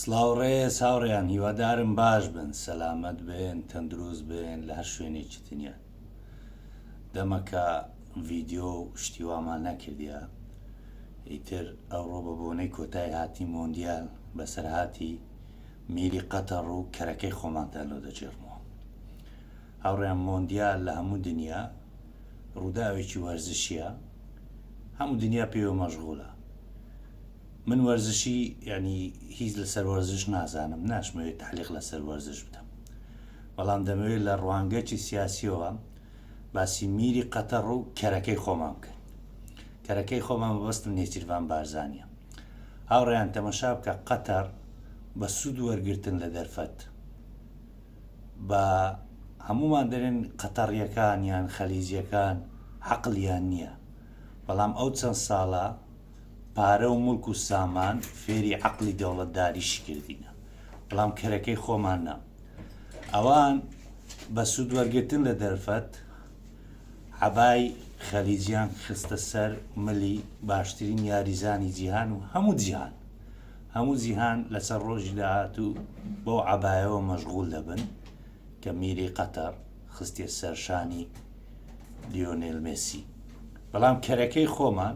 سڵاو ڕێز هاوڕێیان هیوادارم باش بن سەلامەت بن تەندروست بن لە هەر شوێنێکی دنیا دەمەکە ڤیددیو و شتیوامان نەکردە ئیتر ئەوڕۆ بە بۆنەی کۆتای هاتی مۆندیال بەسەرهاتی میری قەتەڕ و کەرەکەی خۆمانتان لۆ دەجێڕمەوە هاوڕێیان مۆندیال لە هەموو دنیا ڕووداوێکی وەرزشیە هەموو دنیا پێوە مەژغولە من وەرزشی یانی هیچ لەسەر وەرزش نازانم ناشمەوێت تەعلیق لەسەر وەرزش بکەم بەڵام دەمەوێت لە ڕوانگەچی سیاسیەوە باسی میری قەتەڕ و کەرەکەی خۆمان بکەین کەرەکەی خۆمان بەستم نێچیرڤان بارزانە هاوڕیان تەمەشا بکە قەتەر بە سوود وەرگتن لە دەرفەت بە هەمومان دەرێن قەتەڕیەکان یان خەلیجیەکان عقلیان نییە بەڵام ئەو چەند ساڵە پارە و موڵک و سامان فێری عەقڵی دەوڵەتداریی کردینە، بەڵام کەرەکەی خۆمان نا. ئەوان بە سوود وەرگرتن لە دەرفەت، عەبای خەلیجیان خستە سەر ملی باشترین یاریزانی جیهان و هەموو جیهان، هەموو جیهان لەسەر ڕۆژی داهاتوو بەو عەبایەوە مەشغوول دەبن کە میری قەتەڕ خستیە سەر شانی لیۆنێل مێسی. بەڵام کەرەکەی خۆمان.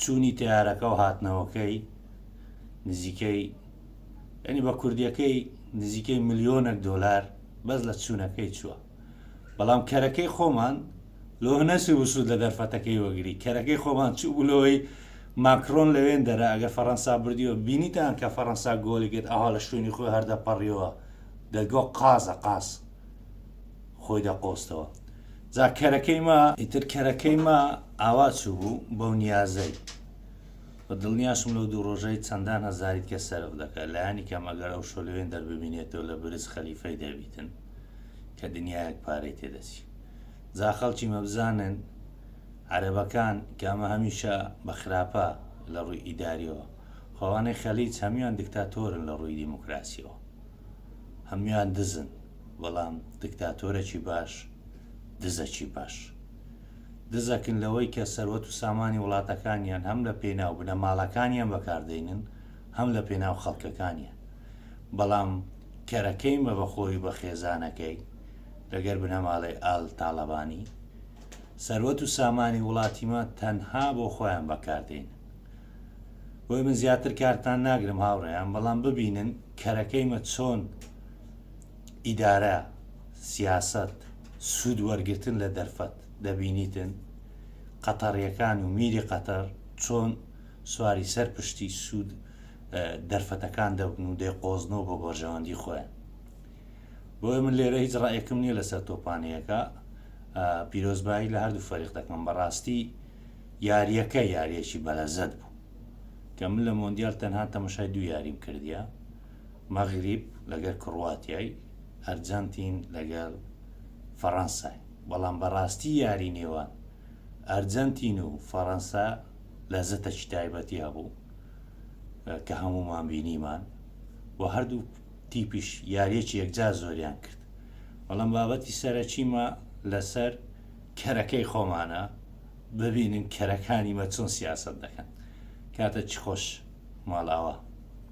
چوونی تەیارەکە و هاتنەوەکەی نزیکەی یانی بە کوردیەکەی نزیکەی ملیۆنەک دۆلار بەس لە چوونەکەی چووە بەڵام کەرەکەی خۆمان لۆ نەچوو وسود لە دەرفەتەکەی وەگری کەرەکەی خۆمان چوو بلەوەی ماکرۆن لەوێن دەرە ئەگەر فەڕەنسا بردیەوە بینیتان کە فەڕەنسا گۆلی گرت ئەها لە شوێنی خۆی هەردەپەڕیەوە دەگۆ قازە قاز خۆی دەقۆستەوە جا کەرەکەی ما ئیتر کەرەکەی ما ئاوا چوو بوو بەو نیازەی بە دڵنیاشم لەو دوو ڕۆژەی چەندان هەزاریت کە سەرف دەکە لایانی کەم ئەگەر ئەو شۆلوێن دەرببینێتەوە لە برز خەلیفەی دەبیتن کە دنیایەک پارەی تێدەچی جا خەڵکی مەبزانن عەرەبەکان کامە هەمیشە بە خراپە لە ڕووی ئیداریەوە خۆوانەی خەلیج هەمیان دکتاتۆرن لە ڕووی دیموکراسیەوە هەموان دزن بەڵام دکتاتۆرەکی باش دزەکی باش دزەکن لەوەی کە سەروەت و سامانی وڵاتەکانیان هەم لە پێناو بنەماڵەکانیان بەکاردێنن هەم لە پێناو خەڵکەکانیان بەڵام کەرەکەی مە بە خۆی بە خێزانەکەی لەگەر بنەماڵەی ئال تاڵەبانی سەروەت و سامانی وڵاتیمە تەنها بۆ خۆیان بەکاردێنن بۆیە من زیاتر کارتان ناگرم هاوڕێیان بەڵام ببینن کەرەکەیمە چۆن ئیدارە سیاست سوود وەرگتن لە دەرفەت دەبینیتن قەتەڕیەکان و میری قەتەر چۆن سواری سەر پشتی سوود دەرفەتەکان دەبن و دەیقۆزنەوە بۆ بەرژەوەندی خۆیان بۆیە من لێرە هیچ ڕایەکم نییە لەسەر تۆپانەیەەکە پیرۆزبایی لە هەردوو فەریق دەکەم بەڕاستی یاریەکە یاریەکی بەلەزەت بوو کە من لە مۆندیال تەنها تەمەشای دوو یاریم کردیە مەغریب لەگەر کڕواتیای ئەرجەنتین لەگەر فەرەنسای بەڵام بەراستی یاری نێوان ئەرجەنتین و فەرەنسا لەزەتەکی تایبەتی هەبوو کە هەموومان بینیمان و هەردوو تیپیش یاریەکی یەکجار زۆریان کرد بەڵام بابەتی سەرەکیمە لەسەر کەرەکەی خۆمانە ببینن کەرەکانی مە چۆن سیاسەت دەکەن کاتە چ خۆش ماڵاوا.